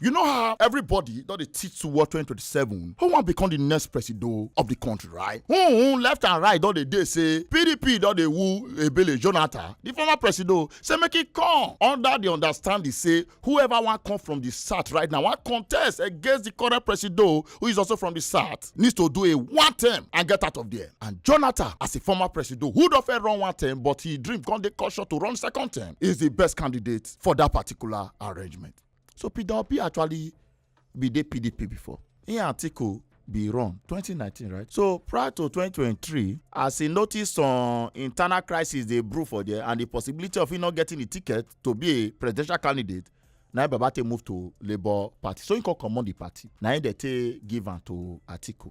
You know how everybody don dey teach towards 2027 who wan become the next presido of the country right? Hmm, left and right don dey dey say PDP don dey woo Ebele Jonathan, the former presido, say make e come under the understanding say whoever wan come from the south right now wan contest against the current presido who is also from the south needs to do a one term and get out of there. And Jonathan as a former presido who don fit run one term but his dream come dey caution to run second term is the best candidate for that particular arrangement. So Peter Obi actually be the PDP before. In article be run 2019 right so prior to 2023 as he notice some internal crisis dey brew for there and the possibility of him not getting the ticket to be a presidential candidate na baba take move to labour party so he come comot the party na him dey take give am to atiku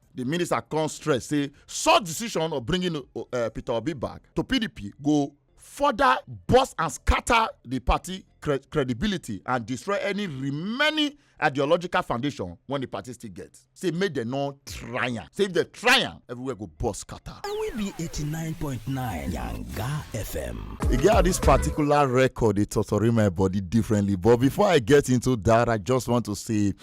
The minister come stress say such decision of bringing uh, Peter Obi back to PDP go further burst and scatter the party cre credibility and destroy any remaining ideological foundation when the party still get say make dem no try am say if dem try am everywhere go burst scatter. and we be eighty nine point nine yanga fm. e get how this particular record dey totori my body differently but before i get into that i just want to say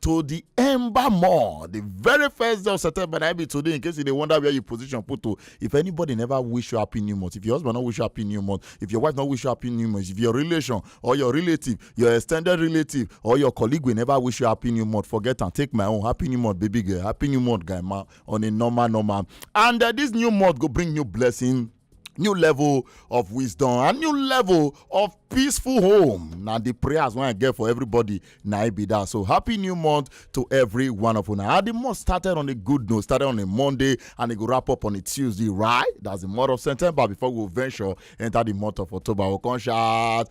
to the ember more the very first day of september na be today in case you dey wonder where you position put to if anybody never wish you happy new month if your husband no wish you happy new month if your wife no wish you happy new month if your relation or your relative your extended relative or your colleague will never wish you happy new month forget and take my own happy new month baby girl happy new month guy man on a normal normal and uh, this new month go bring new blessing new level of wisdom and new level of peaceful home na the prayers wey i get for everybody na i be that so happy new month to every one of una and the month started on a good note started on a monday and e go wrap up on a tuesday right that's the month of september before we go venture enter the month of october we come shout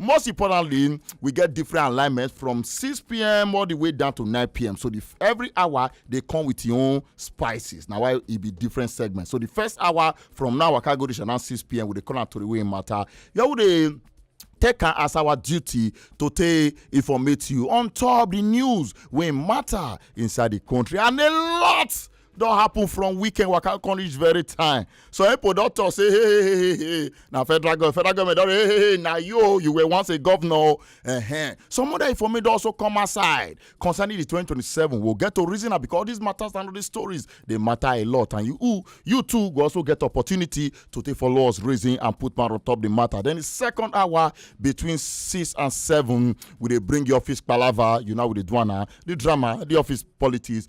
Most importantly, we get different alignments from 6 p.m. all the way down to 9 p.m. So the, every hour they come with your own spices. Now why it be different segments. So the first hour from now, I can go to now 6 p.m. with the corner to the way matter. Yeah, would they take am as our duty to take informate you on top the news wey matter inside the country and a lot don happen from weekend waka come reach very time so epo don talk say hey hey hey hey hey na federal government federal government don hey hey hey na you oh, you were once a governor uh -huh. some other information don also come outside concerning the 2027 we'll get to reason am because these matters and all these stories dey matter a lot and you you too go also get opportunity to take follow us reason and put man on top the matter then the second hour between six and seven we dey bring your office palava you know we dey do am na the drama the office politics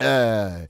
uh,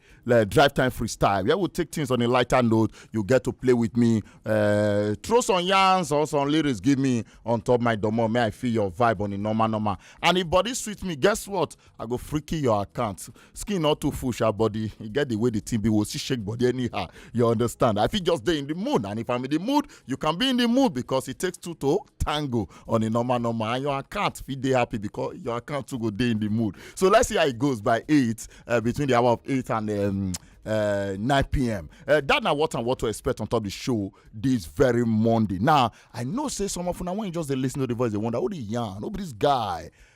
drive time freestyle where we take things on a lighter note you get to play with me uh, throw some yarns or some lyrics give me on top my domo may i feel your vibe on the normal normal and if body suits me guess what i go freaky your account skin not too full sha body you get the way the team be will see shake body anyhow you understand i feel just there in the mood and if i'm in the mood you can be in the mood because it takes two to tango on a normal normal and your account fit dey happy because your account too go dey in the mood so let's see how it goes by eight uh, between the hour of eight and um, uh, 9 p.m. Uh, that now what and what to expect on top the show this very Monday. Now, I know say some of you now when you just they listen to the voice, they wonder, who the yarn, who this guy?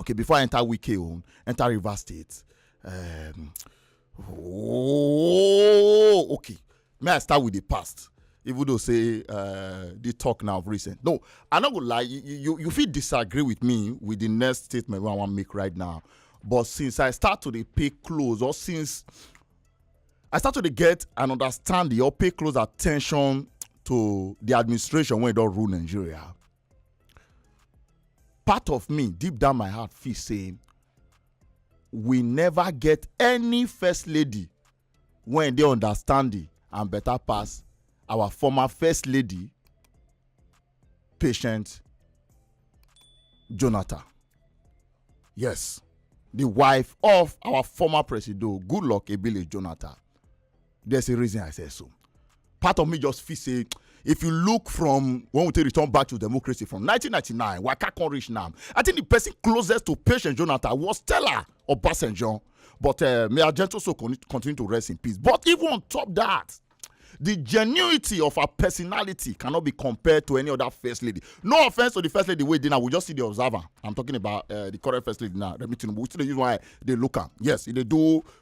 okay before i enter wike own enter rivers state um, oh okay may i start with the past even though say uh, the talk now of recent no i no go lie you you, you fit disagree with me with the next statement wey i wan make right now but since i start to dey pay close or since i start to dey get and understand the or pay close attention to the administration wey don rule nigeria part of me deep down my heart feel say we never get any first lady wey dey understanding and better pass our former first lady patient jonathan yes the wife of our former presido goodluck ebele jonathan there's a reason I say so. Part of me just feel say if you look from when we take return back to democracy from 1999, Waka can reach now. I think the person closest to patient Jonathan was Stella or Basenjon. But uh, may Argento so continue to rest in peace. But even on top that, the genuity of her personality cannot be compared to any other first lady. No offense to the first lady wey dey now, we just see the observer. I'm talking about uh, the current first lady now, Remi Tinubu. We still dey use why they look am. Yes, they do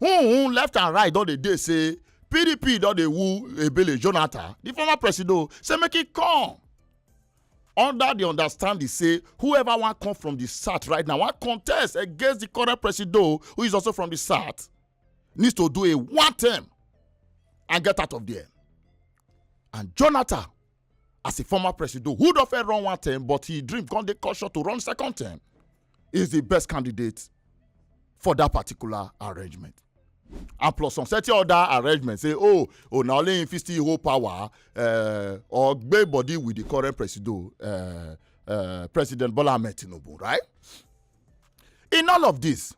Hun left and right don dey dey say PDP don dey woo Ebele Jonathan, the former president, say make he come. Under the understanding say whoever wan come from the south right now wan contest against the current president who is also from the south needs to do a one term and get out of there. And Jonathan as a former president who don fair run one term but he dream come dey caution to run second term is the best candidate for that particular arrangement and plus some certain other arrangement say oh oh na only him fit still hold power uh, or gbé body with the current president uh, uh, president bola ahmed tinubu right in all of this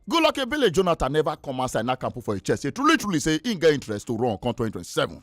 goodluck ebele jonathan never come outside nakam put for his chest say truly truly say he get interest to run come 2027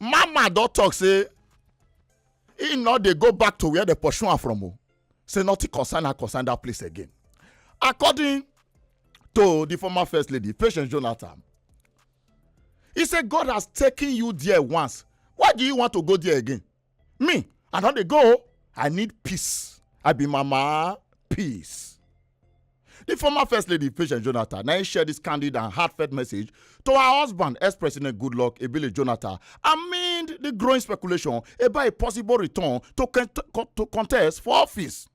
mama don talk say he no dey go back to where dem pursue am from o say nothing concern her concern that place again according to the former first lady patience jonathan he say god has taken you there once why do you want to go there again me i don dey go i need peace i be mama peace di former first lady patient jonathan na im share dis candid and heartfelt message to her husband ex-president goodluck ebele jonathan amid di growing speculation about a possible return to contest for office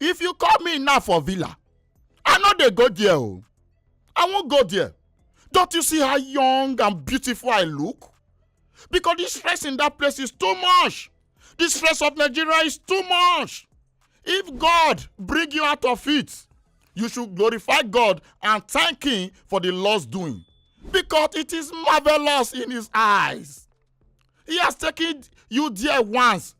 if you call me now for villa i no dey go there o i wan go there don't you see how young and beautiful i look because the stress in that place is too much the stress of nigeria is too much if god bring you out of it you should glorify god and thank him for the lord's doing because it is marvelous in his eyes he has taken you there once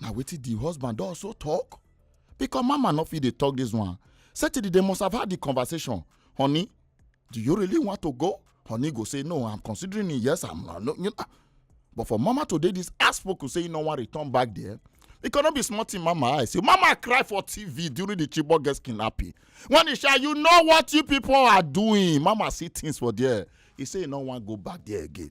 na wetin di husband don also talk because mama no fit dey talk this one say till the day must have had the conversation honey do you really want to go honey go say no i'm considering it yes i'm not no, you know. but for mama to dey this ass spoken say you no wan return back there it cannot be small thing mama i say mama cry for tv during the chibok girls kidnapping when he shall you know what you people are doing mama see things for there he say he no wan go back there again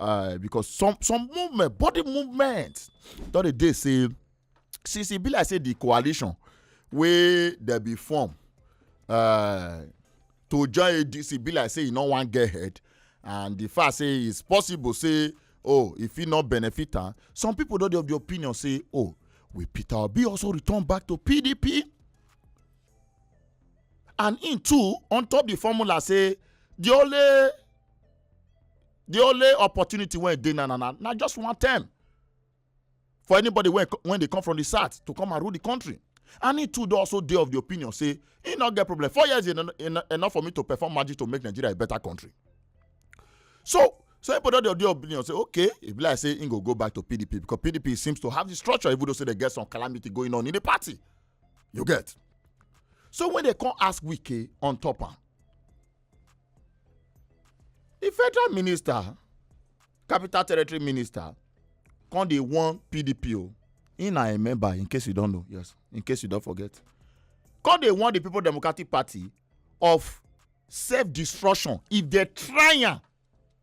uh, because some some movement body movement don dey dey say since e be like say the coalition wey dey be form uh, to join adc e be like say e no wan get head and the fact say it's possible say oh e fit not benefit am some people don dey of the opinion say oh will peter obi also return back to pdp and im too on top the formula say the only the only opportunity when they na na na na just one term for anybody when when they come from the south to come and rule the country and he too dey also dey of the opinion say he no get problem four years en en enough for me to perform magic to make nigeria a better country so so people don dey of the opinion say okay e be like say he go go back to pdp because pdp seems to have the structure even though say they get some calamity going on in the party you get so when they come ask wike on top am di federal minister capital territory minister come dey warn pdp o he na a member in case you don know yes in case you don forget come dey warn di people democratic party of self destruction if dem try am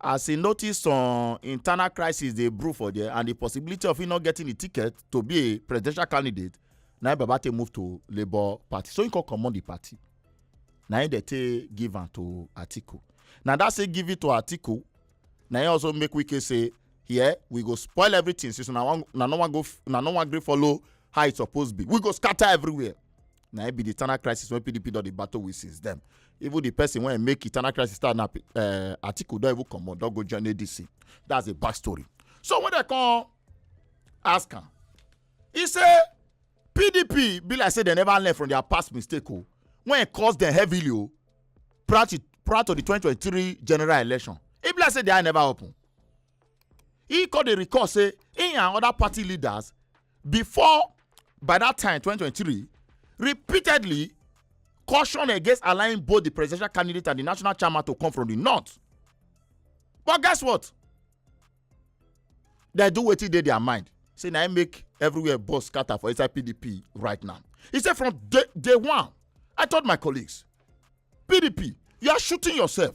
as e notice some internal crisis dey brew for there and the possibility of him not getting the ticket to be a presidential candidate na him babate move to labour party so he come comot the party na him dey take give am to atiku na that say give it to atiku na him also make wike say here we go spoil everything since una wan una no wan go una no wan gree follow how e suppose be we go scatter everywhere na im be di internal crisis wey pdp don dey battle with since then even di person wey make internal crisis start na eh, atiku don even comot don go join adc that's a back story so when dem come ask am e say pdp be like say dem never learn from their past mistake o oh. when e cause dem heavily o oh, prior to prior to di 2023 general election e be like say di eye never open He come dey recall say he and other party leaders before by that time 2023 repeatedly caution against allowing both the presidential candidate and the national chairman to come from the north. But guess what? They do wetin dey their mind. Say na im make everywhere bus scatter for inside PDP right now. He said from day, day one, I told my colleagues, PDP, you are shooting yourself.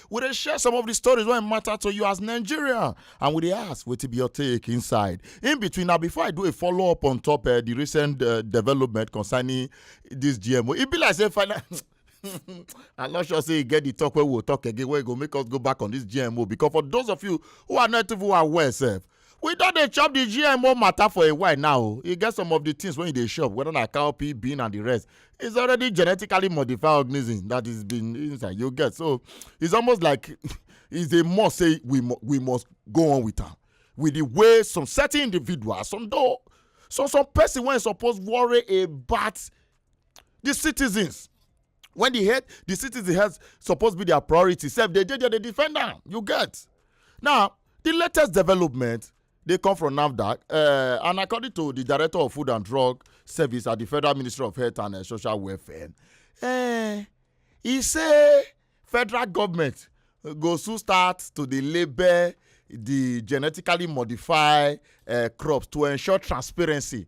We dey share some of the stories wey matter to you as Nigerian and we dey ask wetin be your take inside. In between na before I do a follow up on top uh, the recent uh, development concerning this GMO. E be like say final. I'm not sure say you get the talk where we'll talk again where you go make us go back on this GMO because for those of you who are not even aware self, we don dey chop the gmo matter for a while now oh. e get some of the things wey you dey chop whether na cowpea bean and the rest it's already genetically modified organism that is been inside you get so it's almost like it's a must say we mu- we must go on with am with the way some certain individuals some though some some person wey suppose worry about the citizens when the head the citizen health supposed to be their priority sef they dey there dey defend am you get now the latest development dey come from nafdac uh, and according to the director of food and drug service at the federal ministry of health and uh, social welfare uh, he say federal government go soon start to dey label the genetically modified uh, crops to ensure transparency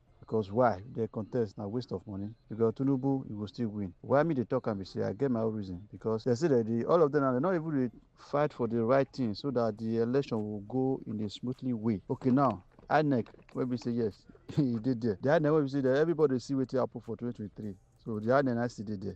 because why the contest na waste of money because tinubu you go still win why me dey talk am be say i get my own reason because they say that the all of them na they no even dey fight for the right thing so that the election will go in a smoothly way okay now inec wey be say yes e dey there the inec wey be say that everybody see wetin happen for 2023 so the inec na still dey there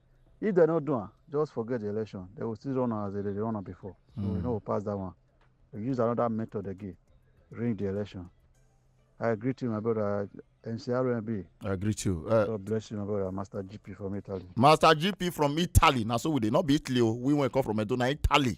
if dem no do am just forget the election dem go still run am as dem dey run am before so mm. we no go pass that one we use another method again ring the election i greet you my brother ncrmb i greet you uh, god bless you my brother master gp from italy master gp from italy na so we dey not be italy o oh. we wan come from edo na italy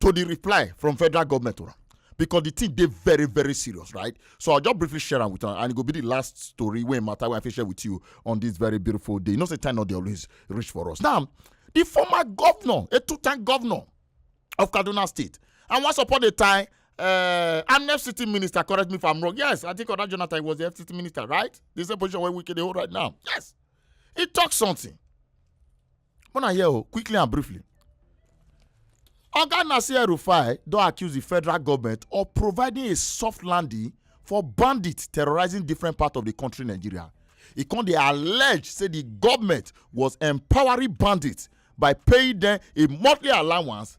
to the reply from federal government to because the thing they very very serious right so i'll just briefly share am with you, and it will be the last story when matter wey i fit share with you on this very beautiful day you know say time not dey always reach for us now the former governor a two-time governor of kaduna state and once upon a time uh, I'm FCT minister, correct me if I'm wrong. Yes, I think Oda Jonathan was the FCT minister, right? This is the position where we can hold right now. Yes. He talks something. Una hear o, quickly and briefly. Oga Nasir El-Rufai don accuse di federal government of providing a soft landing for bandits terrorizing different parts of di country Nigeria. E come dey allege say di government was empowering bandits by paying dem a monthly allowance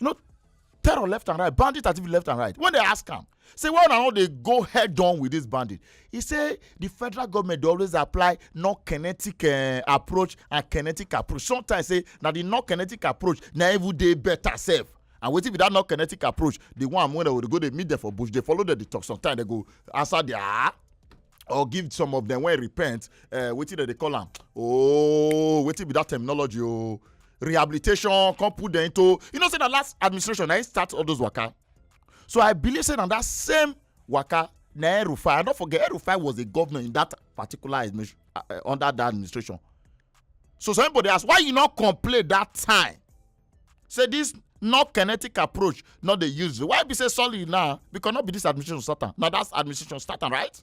you know terror left and right bandit activity left and right when they ask am say why una no dey go head on with this bandit he say the federal government dey always apply non-kinetic uh, approach and kinetic approach sometimes say na the non-kinetic approach na even dey better sef and wetin be that non-kinetic approach the one wey dem go dey meet them for bush dey follow them dey talk sometimes they go answer their ah or give some of them wey repent uh, wetin dem dey call am oh wetin be that terminology oh rehabilitation come put dem into you know say na last administration na im start all those waka so i believe say na that same waka na erufai i no forget erufai was a governor in that particular administration uh, uh, under that administration so some people dey ask why you no complain that time say this not kinetic approach not dey use why be say solid now because no be this administration start am na that administration start am right.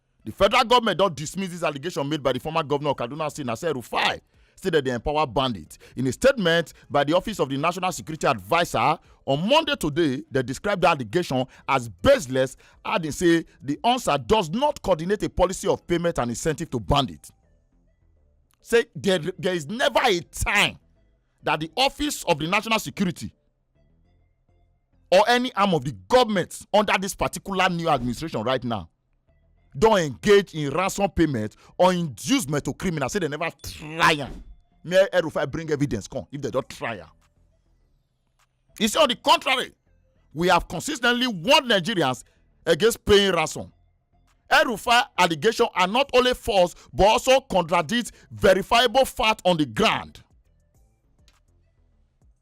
Di federal goment don dismiss dis allegation made by di former govnor of Kaduna State, Nasir Rufai, say dem dey empower bandits. In a statement by di office of di national security adviser on Monday today, dem describe di allegation as baseless, adding say di UNSA does not coordinate a policy of payment and incentive to bandits. Say there, there is never a time that the office of the national security or any arm of the government under this particular new administration right now don engage in ransom payment or induce metal criminal say dem never try am mayor erufai bring evidence come if dem don try am he say on the contrary we have consistently warned nigerians against paying ransom erufai allegation are not only false but also contradict verifiable fact on the ground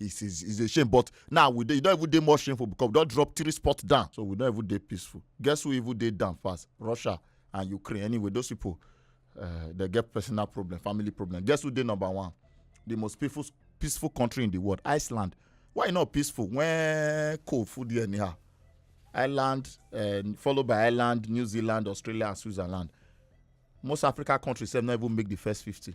It's, it's, it's a shame, but now we dey, don't even dey more shameful because we don't drop three spots down, so we don't even dey peaceful. Guess who even dey down fast? Russia and Ukraine. Anyway, those people uh, they get personal problem, family problem. Guess who dey number one? The most peaceful peaceful country in the world, Iceland. Why e not peaceful when cold food there anyhow? Ireland, uh, followed by Ireland, New Zealand, Australia, and Switzerland. Most African countries have not even make the first 50.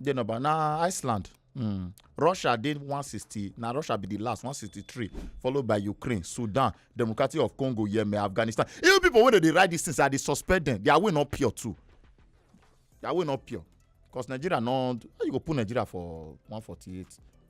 dey number na iceland mm. russia dey 160 na russia be the last 163 followed by ukraine sudan democratic of congo yemen afghanistan even people wey dey write these things i dey suspect them their way no pure too their way no pure because nigeria no how you go put nigeria for 148